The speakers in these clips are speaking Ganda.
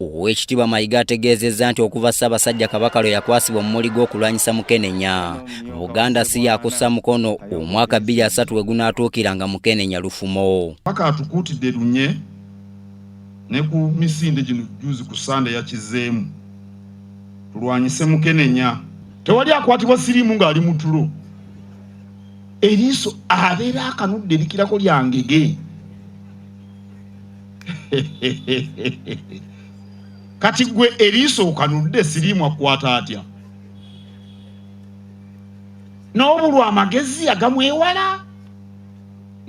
Oweekitiibwa Mayiga ategeezezza nti okuva Ssaabasajja Kabaka lwe yakwasibwa omumuli gw'okulwanyisa mukenenya, Buganda si yakussa mukono omwaka bbiri asatu we gunaatuukira nga mukenenya lufumo. Kabaka atukuutidde lunye ne ku misinde gino jjuuzi ku Ssande yakizzeemu, tulwanyise mukenenya. Tewali akwatibwa siriimu ng'ali mu tulo, eriiso abeera akanudde likirako lya ngege. kati gwe eriiso okanudde siriimu akwata atya n'obulwa amagezi agamwewala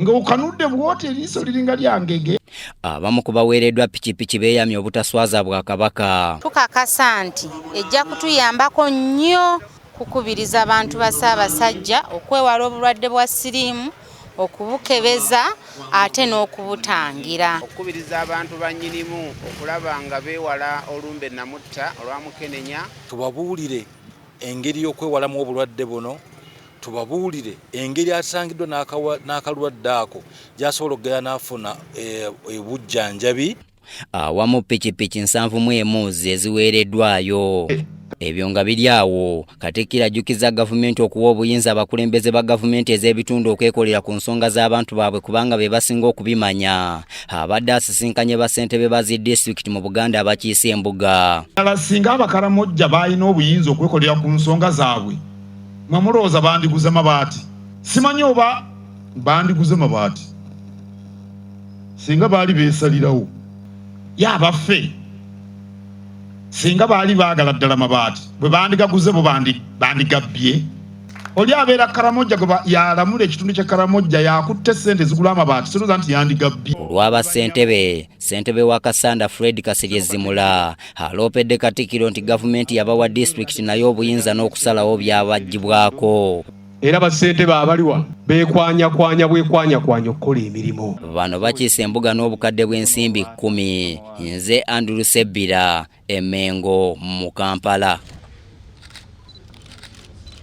nga okanudde bwoti eriiso liringa lyangege abamu ku baweereddwa pikipiki beeyamye obutaswaza bwa kabaka tukakasa nti ejja kutuyambako nnyo kukubiriza abantu ba ssaabasajja okwewala obulwadde bwa siriimu okubukebeza ate n'okubutangira. Okukubiriza abantu ba nnyinimu okulaba nga beewala olumbe namutta olwa mukenenya. Tubabuulire engeri y'okwewalamu obulwadde buno, tubabuulire engeri asangiddwa n'akalwadde ako gy'asobola okugenda n'afuna eh, obujjanjabi. awamu pikipiki nsanvu mu emu zeziweereddwayo ebyo nga biri awo katikkiro ajjukiza gavumenti okuwa obuyinza abakulembeze ba gavumenti ez'ebitundu okwekolera ku nsonga z'abantu baabwe kubanga be basinga okubimanya abadde asisinkanye bassentebe ba zi disitulikiti mu buganda abakiise embuga ala singa abakaramojja baalina obuyinza okwekolera ku nsonga zaabwe mwe mulowooza bandiguze mabaati simanyi oba bandiguze mabaati singa baali beesalirawo ye abaffe singa baali baagala ddala mabaati bwe bandigaguze bo bandigabbye oli abeera karamojja gwe yalamula ekitundu kya karamojja yakutte sente zigula amabaati siroza nti yandigabbye olwaba sentebe sentebe wa kasanda fred kasirye zimula aloopedde katikiro nti gavumenti yabawa disitulikiti naye obuyinza n'okusalawo byabagibwako era bassentebe abali wano bekwanyakwanya bwekwanyakwanya okukola emirimu bano bakiisa embuga n'obukadde bw'ensimbi kkumi nze andrew sebbira emengo mu kampala